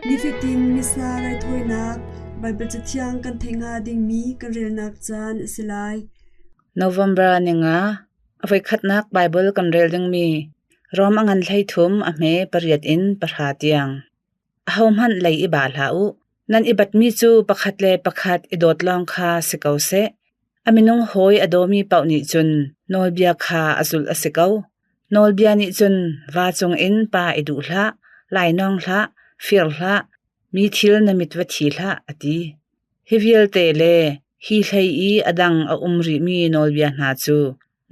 Nifatin missa raithawinak Baibal Cathiang kan thei nga dingmi kan relnak caan a si lai. November ninga avoikhatnak Bible kan rel dingmi Rom a ngan hlei thum a hme pariat in pahra tiang. Ahohmanh lei i ba hlah u. Nan i batmi cu pakhat le pakhat i dawt lawng kha si ko seh. A minung hawi a dawmi paoh nih cun nawlbia kha a zulh a si ko. Nawlbia nih cun va cungin pa i duh hlah, lainawng hlah, fir hlah, mi thil na mit va thi hlah, a ti. Hi vialte le hi hlei i a dang a um rihmi nawlbia hna cu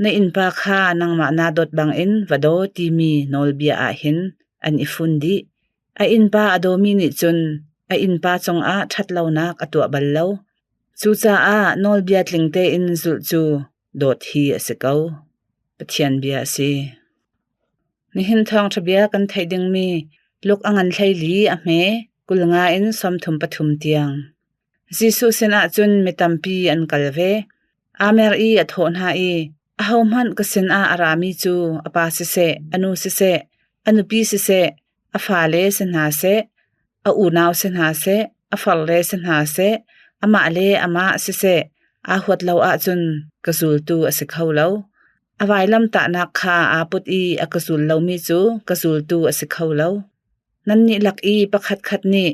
Na innpa kha nangmah naa dawt bangin va daw timi nawlbia ah hin an i fun dih. A innpa a dawmi nih cun a innpa cungah ṭhatlonak a tuah bal lo. Cucaah nawlbia tling tein zulh cu dawt hi a si ko. Pathian bia a si. Nihin thawngṭha bia kan theih dingmi Luk a ngan hlei li a hme kul nga in sawmthum pathum tiang. Jesuh sinah cun mi tampi an kal ve. Amer i a thawh hna i, “Ahohmanh ka sinah a rami cu a pa siseh, a nu siseh, a nupi siseh, a fale si hna seh, a unau si hna seh, a farle si hna seh, amah le amah siseh aa huat lo ahcun ka zultu a si kho lo. A vailamtahnak kha aa put i a ka zul lomi cu ka zultu a si kho lo. Nannih lak i pakhatkhat nih,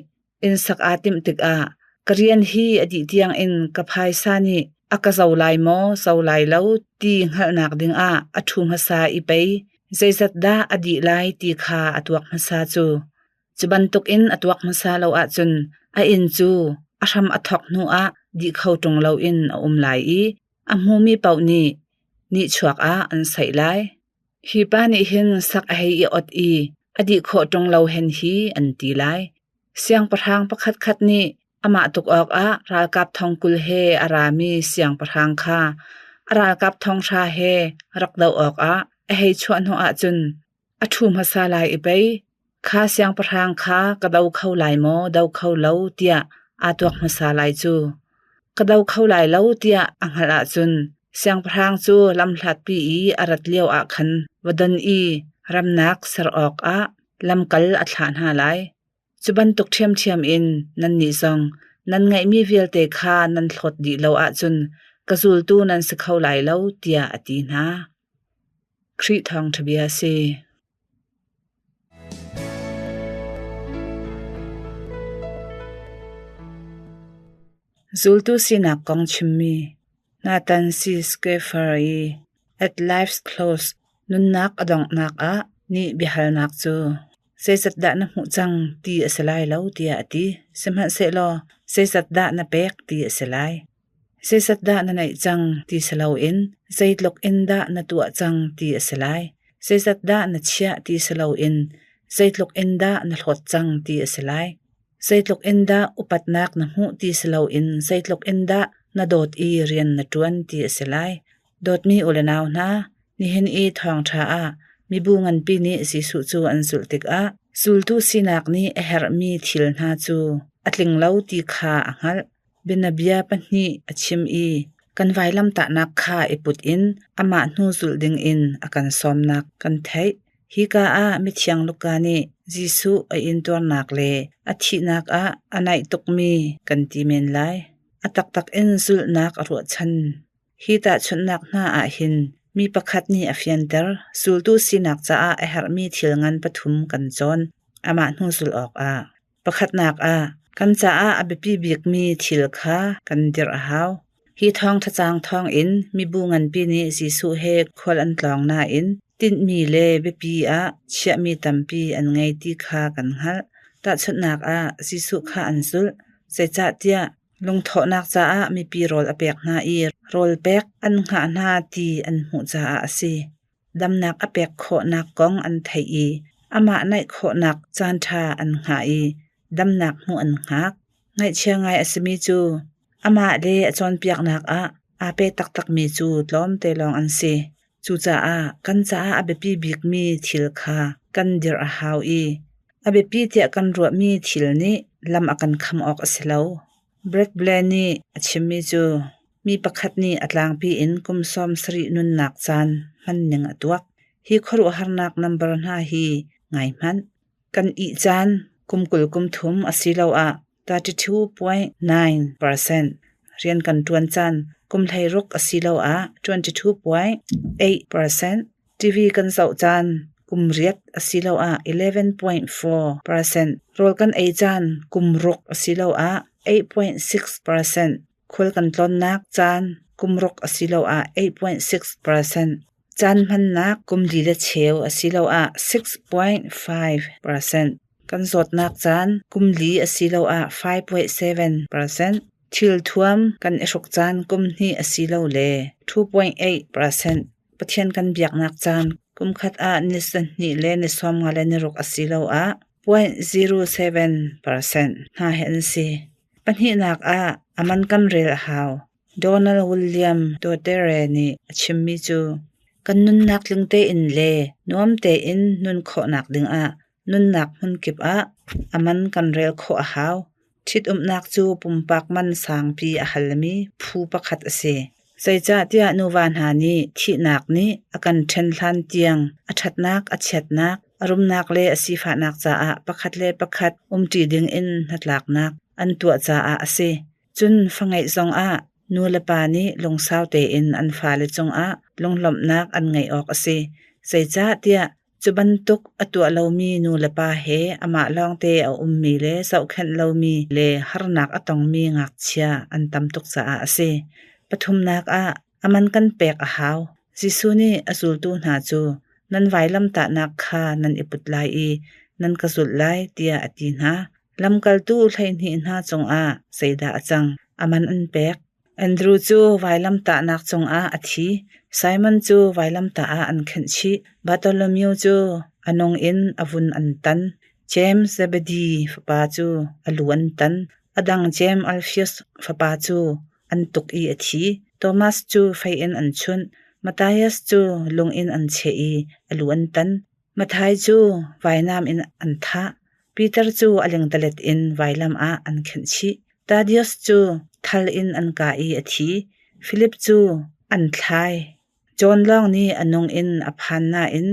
Inn sak aa timh tikah ka rian hi a dih tiangin ka phaisa nih a ka zo lai maw, zo lai lo ti hngalhnak dingah a ṭhu hmasa i pei zeizatdah a dih lai ti kha a tuak hmasa cu. Cu bantukin a tuak hmasa lo ahcun a inn cu a hram a thawk hnuah dih kho ṭung loin a um lai i a hmumi paoh nih nihchuak ah an saih lai. Hi pa nih hin sak a hei i ot i a dih khawh ṭung lo hen hi an ti lai. Siangpahrang pakhatkhat nih amah tuk awkah ralkap thong kul he a rami siangpahrang kha a ralkap thonghra he rak doh awkah a hei chuah hnu ahcun a ṭhu hmasa lai i pei. Kha siangpahrang kha ka do kho lai maw, do kho lo tiah aa tuak hmasa lai cu. Ka do kho lai lo tiah a hngalh ahcun siangpahrang cu lamhlatpi i a rat lioah khan va don i ramnak ser awkah lamkal a thlah hna lai. Cu bantuk ṭhiamṭhiam in nannih zong nan ngeihmi vialte kha nan hlawt dih lo ahcun ka zultu nan si kho lai lo, tiah a ti hna. Khrih Thawngṭhabia a si. Zultu sinak kong chimmi Nathan C. Schaeffer i At Life's Close nunnak a donghnak ah nih biahalnak cu zeizat dah na hmuh cang ti a si lai lo tiah a ti. Sihmanhsehlaw zeizat dah na pek ti a si lai. Zeizat dah na naih cang ti si loin zeitluk in dah na tuah cang ti a si lai. Zeizat dah na chiah ti si loin zeitluk in dah na hlawt cang ti a si lai. Zeitluk in dah upatnak na hmuh ti si loin zeitluk in dah na dawt i rian na ṭuan ti a si lai. Dawtmi u le nau hna, nihin i thawngṭha ah mibu nganpi nih Jesuh cu an zulh tikah zultu sinak nih a herhmi thil hna cu a tling lo ti kha a hngalh. Bianabia pahnih a chim i kan vailamtahnak kha i put in amah hnu zulh dingin a kan sawmnak kan theih. Hika ah Mithiang Luka nih Jesuh a intuarnak le a thihnak ah a naih tukmi kan ti men lai. A taktak in zulhnak a ruahchan. Hi tahchunhnak hna ah hin mi pakhat nih a fianter zultu sinak caah a herhmi thil ngan pathum kan cawn. Amah hnu zulh awkah. Pakhatnak ah, kan caah a biapi bikmi thil kha kan dirh a hau. Hi thawngthacaang thawngin mibu nganpi nih Jesuh he khual an tlawng nain tinhmi le biapi ah chiahmi tampi an ngei ti kha kan hngalh. Tahchunhnak ah, Jesuh kha an zulh. Zeicahtiah lungthawhnak caah mipi rawl a pek hna i rawl pek an hngah hna ti an hmuh caah a si. damnak a pek khawhnak kong an theih i amah naih khawhnak caanṭha an hngah i damnak hmuh an hngak. Ngaihchia ngai a simi cu amah le a cawnpiaknak ah aa pe taktakmi cu tlawmte lawng an si. Cucaah kan caah a biapi bikmi thil kha kan dirh a hau i a biapi tiah kan ruahmi thil nih lam a kan kham awk a si lo. Bradley nih a chimmi cu mi pakhat nih a tlangpi in kum sawm sarih nunnak caan hmanning a tuak. Hi khuaruahharnak nambar hna hi ngai hmanh. Kan ih caan kum kul kum thum asiloah 32.9 percent, rian kan ṭuan caan kum hleiruk asiloah 22.8 percent, TV kan zoh caan kum riat asiloah 11.4 percent, rawl kan ei caan kum ruk asiloah 8.6 percent, khul kan tlonnak caan kum ruk asiloah 8.6 percent, caan hmannak kum li le cheu asiloah 6.5 percent, kan zawtnak caan kum li asiloah 5.7 percent, thil thuam kan i hruk caan kum hnih asilole 2.8 percent. Pathian kan biaknak caan kumkhat ah ni sahnih le ni sawmnga le ni ruk asiloah 0.07 percent hna hi an si. Pahnihnak ah a man kan rel a hau. Donald William Dotere nih a chimmi cu kan nunnak tling tein le nuam tein nun khawhnak dingah Nunnak hmun kip ah a man kan rel khawh a hau. Ṭhitumnak cu pumpak man sangpi a halmi phu pakhat a si. Zeicahtiah nuva hna nih thihnak nih a kan ṭhen hlan tiang a ṭhatnak, a chiatnak, a rumnak le a sifahnak caah pakhat le pakhat umṭi dingin hnatlaknak an tuah caah a si. Cun fa ngeih zongah nu le pa nih lungsau tein an fale cungah lunglawmhnak an ngeih awk a si. Zeicahtiah Cu bantuk a tuah lomi nulepa he amah lawngte a ummi le zohkhenh lomi le harnak a tongmi ngakchia an tam tuk caah a si. Pathumnak ah a man kan pek a hau. Jesuh nih a zultu hna cu nan vailamtahnak kha nan i put lai i nan ka zulh lai tiah a ti hna. Lamkaltu hleihnih hna cungah zeidah a cang? A man an pek. Andrew cu vailamtahnak cungah a thi. Simon cu vailamtah ah an khenh chih. Bartholomew cu a nung in a vun an tan. James Zebedi fapa cu a lu an tan. A dang James Alphaeus fapa cu an tuk i a thi. Thomas cu fei in an chunh. Matthias cu lung in an cheh i a lu an tan. Mathai cu vainam in an thah, Piter cu a lengdalet in vailam ah an khenh chih. Thaddeus cu thal in an kah i a thi, Filip cu an thlai. John lawng nih a nung in a phan nain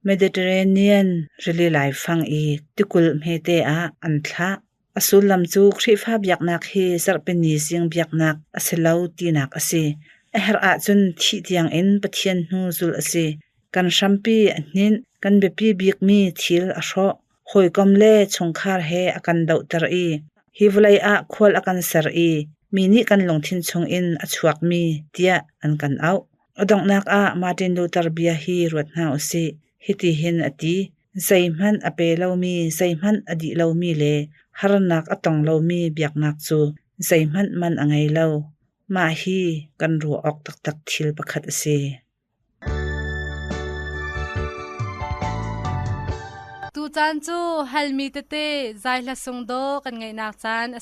Mediterranean rili laifang i tikulh hmete ah an thlah. A sullam cu Khrihfa biaknak hi Zarhpini-zing biaknak a si lo tinak a si. A herh ahcun thih tiangin Pathian hnu zulh a si. Kan hrampi a hninh, kan biapi bikmi thil a hrawh, hawikom le chungkhar he a kan dohter i hi vawlei ah khual a kan ser i mi nih kan lungthin chungin a chuakmi tiah an kan auh. A donghnak ah Martin Luther bia hi ruat hna u sih. Hitihin a ti: Zeihmanh a pe lomi, zeihmanh a dih lomi le harnak a tong lomi biaknak cu zeihmanh man a ngei lo. Mah hi kan ruah awk taktak thil pakhat a si. Tucaan cu halmi tete zai hla sung daw kan ngaihnak caan a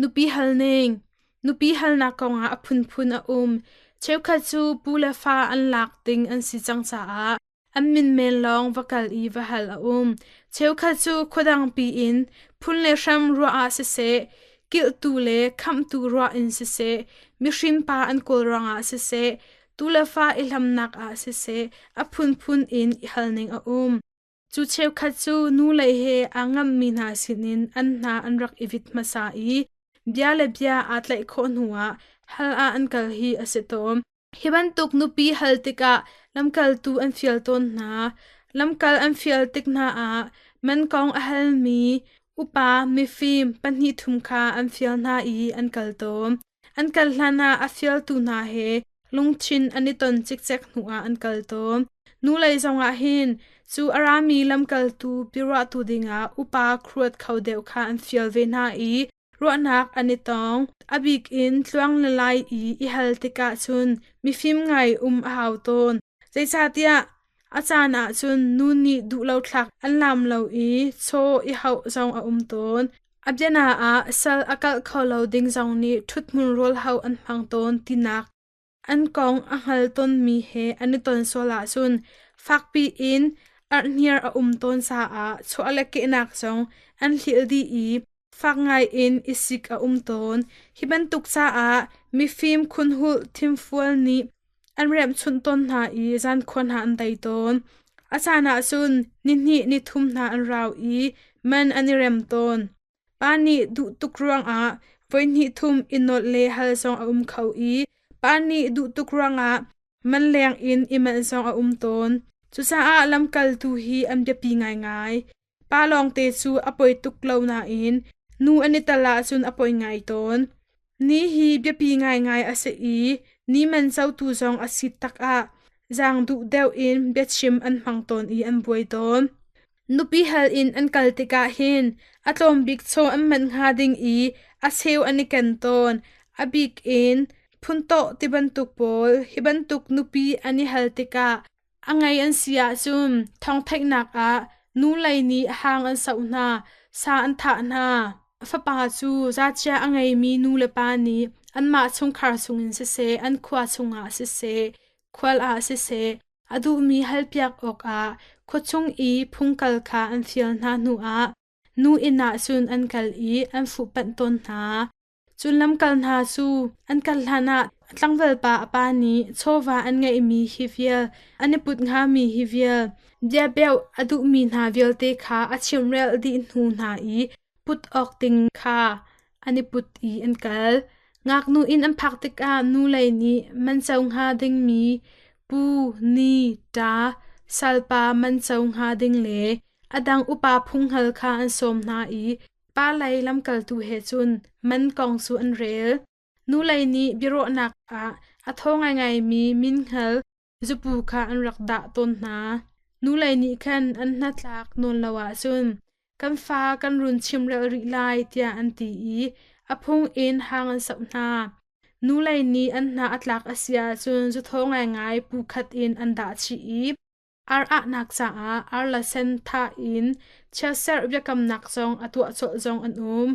Nupi halning Nupi halnak kongah a phunphun a um. Cheukhat cu pu le fa an lak ding an si cang caah an min men lawng va kal i va hal a um. Cheukhat cu khuadang piin phun le hram ruah ah siseh, kilhtu le khamhtu ruah in siseh, mihrim pa an kawl ruangah siseh, Tuu le fa i hlamnak ah siseh a phunphun in i halning a um. Cu cheukhat cu nu lei he aa ngammi hna sinin an hna an rak i vit hmasa i bia le bia aa tlaih khawh hnuah hal ah an kal hi a si tawn. Hi bantuk nupi hal tikah lamkaltu an fial tawn hna. Lamkal an fial tik hna ah man kong a halmi upa mifim pahnih thum kha an fial hna i an kal tawn. An kal hlanah a fialtu hna he lungthin an i ton cikcek hnuah an kal tawn. Hnulei zongah hin cu a rami lamkaltu biaruahtu dingah upa kruat kho deuh kha an fial ve hna i ruahnak an i tong. A bik in tluang le lai i i hal tikah cun mifim ngai um a hau tawn. Zeicahtiah a caan ahcun nu nih duh lo thlak an laam lo i chaw i hauh zong a um tawn. A biana ah sal a kalh kho lo ding zong nih ṭhuthmun rawl hauh an hmang tawn tinak an kong a hngal tonmi he an i ton sual ahcun fakpi in arhniar a um tawn caah chaw le kehnak zong an hlial dih i fak ngaiin i sik a um tawn. Hi bantuk caah mifim khunhulh thimfual nih an remhchunh tawn hna i zankhuа hna an tei tawn. A caan ah cun nihnih nithum hna an rau i man an i rem tawn. Pa nih duh tuk ruangah voihnih thum i nolh le hal zong a um kho i pa nih duh tuk ruangah man leng in i melh zong a um tawn. Cucaah lamkaltu hi an biapi ngaingai. Pa lawngte cu a poi tuk lo nain nu an i tal ahcun a poi ngai tawn. Ni hi biapi ngaingai a si i ni man cotu zong a si takah zaang duh deuh in biachim an hmang tawn i an buai tawn. Nupi hal in an kal tikah hin a tlawm bik chaw an manh hnga ding i a cheu an i ken tawn. A bik in phuntaw ti bantuk pawl hi bantuk nupi an i hal tikah A ngei an si ahcun thawngtheihnak ah nu lei nih hang an soh hna, sa an thah hna. A fapa cu zacchiah a ngeimi nulepa nih anmah chungkhar chungin siseh, an khua chungah siseh, khual ah siseh, a duhmi halpiak awkah khua chung i phung kal kha an fial hna hnuah nu inn ah cun an kal i an fuhpanh tawn hna. Cun lamkal hna cu an kal hlanah a tlangvalpa a pa nih chawva an ngeihmi hi vial, an i put hngami hi vial, biabeuh a duhmi hna vialte kha a chimrel dih hnu hna i put awk ding kha an i put i an kal. Ngaknu inn an phak tikah nulei nih man co hnga dingmi pu, ni, ṭa, salpa man co hnga ding le a dang upa phunghal kha an sawm hna i Pa lei lamkaltu he cun man kong cu an rel. Nulei nih biaruahnak ah a tho ngaingaimi min hngal zapu kha an rak dah tawn hna. Nulei nih khan an hnatlak nawn lo ahcun kan fa kan run chimrel rih lai tiah an ti i a phung in hang an soh hna. Nulei nih an hna a tlak a si ahcun zuthaw ngaingai pu khat in an dah chih i Ar ahnak caah ar le sen tha in chiatserh biakamnak zong a tuah colh zong an um.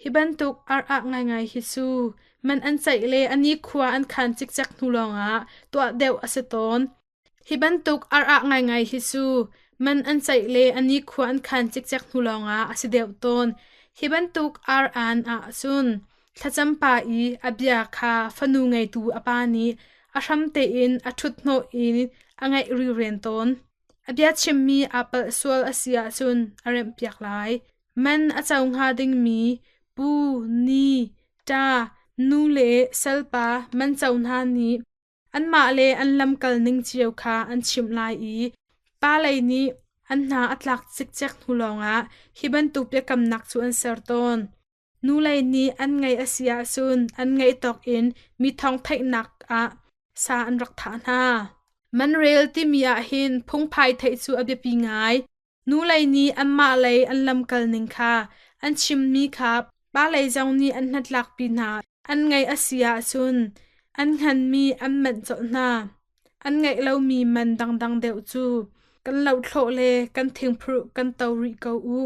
Hi bantuk ar ah ngaingai hi cu man an ceih le a nikhua an khan cikcek hnu lawngah tuah deuh a si tawn. Hi bantuk ar ah ngaingai hi cu man an ceih le a nikhua an khan cikcek hnu lawngah a si deuh tawn. Hi bantuk ar an ah cun Thlacam pa i a bia kha fanu ngeitu a pa nih a hram tein a ṭhuthnawh in a ngaih riren tawn. A bia chimmi aa palh sual a si ahcun a remhpiak lai. Man a co hnga dingmi pu, ni, ṭa, nu le salpa man co hna nih anmah le an lamkal ning cio kha an chimh lai i pa lei nih an hna a tlak cikcek hnu lawngah hi bantuk biakamnak cu an ser tawn. Nulei nih an ngeih a si ahcun an ngeih tawk in mi thawngtheihnak ah sa an rak thah hna. Manrel timi ahhin phungphai theih cu a biapi ngai. Nulei nih anmah lei an lamkal ning kha an chimmi kha palei zong nih an hnatlakpi hna. An ngeih a si ahcun an hnganmi an manh colh hna. An ngeih lomi man dangdang deuh cu kan lohthlawh le kan thingphuruh kan to rih ko u.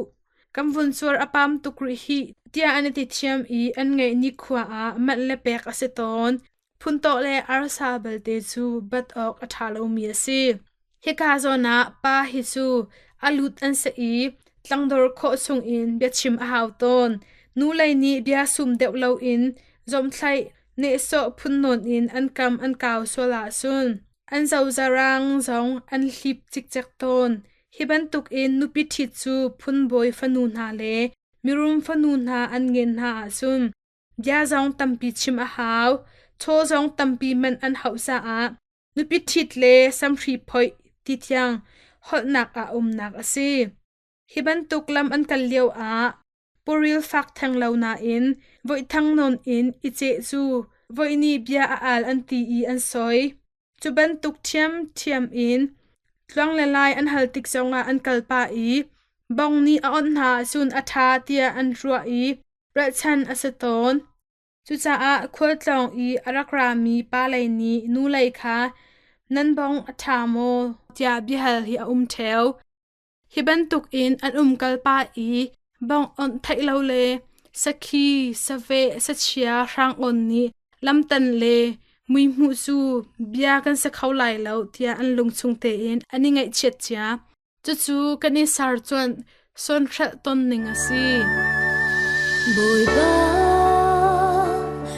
Kan vun suar a pam tuk rih hih tiah an i ti thiam i an ngeih nikhua ah manh le pek a si tawn. Phuntaw le arsa belte cu bat awk a ṭha lomi a si. Hika zawn ah pa hi cu a lut an si i tlangdor khawh chung in bia chim a hau tawn. Nu lei nih bia sum deuh loin zomthlaih nehsawh phunnawn in an kam an kau sual ahcun an zozarang zong an hlip cikcek tawn. Hi bantukin nupi ṭhit cu phunbawi fanu hna le mirum fanu hna an ngen hna ahcun bia zong tampi chim a hau, chaw zong tampi manh an hauh caah nupi ṭhit le samhri phoih ti thiang holhnak a umnak a si. Hi bantuk lam an kal lio ah puril fak theng lo nain voihthang nawn in i ceh cu voihni bia a al an ti i an soi. Cu bantuk ṭhiamṭhiam in tluang le lai an hal tik zongah an kal pah i bong nih a awnh hna cun a ṭha tiah an ruah i ralchanh a si tawn. Cucaah khualtlawng i a rak rami palei nih nu lei kha nan bong a ṭha maw tiah biahal hi a um ṭheo. Hi bantukin an umkalpa i bawng-awnh theih lo le sakhi, saveh, sachia, hrang-on nih lamtan le muihmuh cu bia kan si kho lai lo tiah an lungchung tein an i ngaihchiat cia. Cucu kan i sercuanh sawnhrelh ton ning a si. Bawipa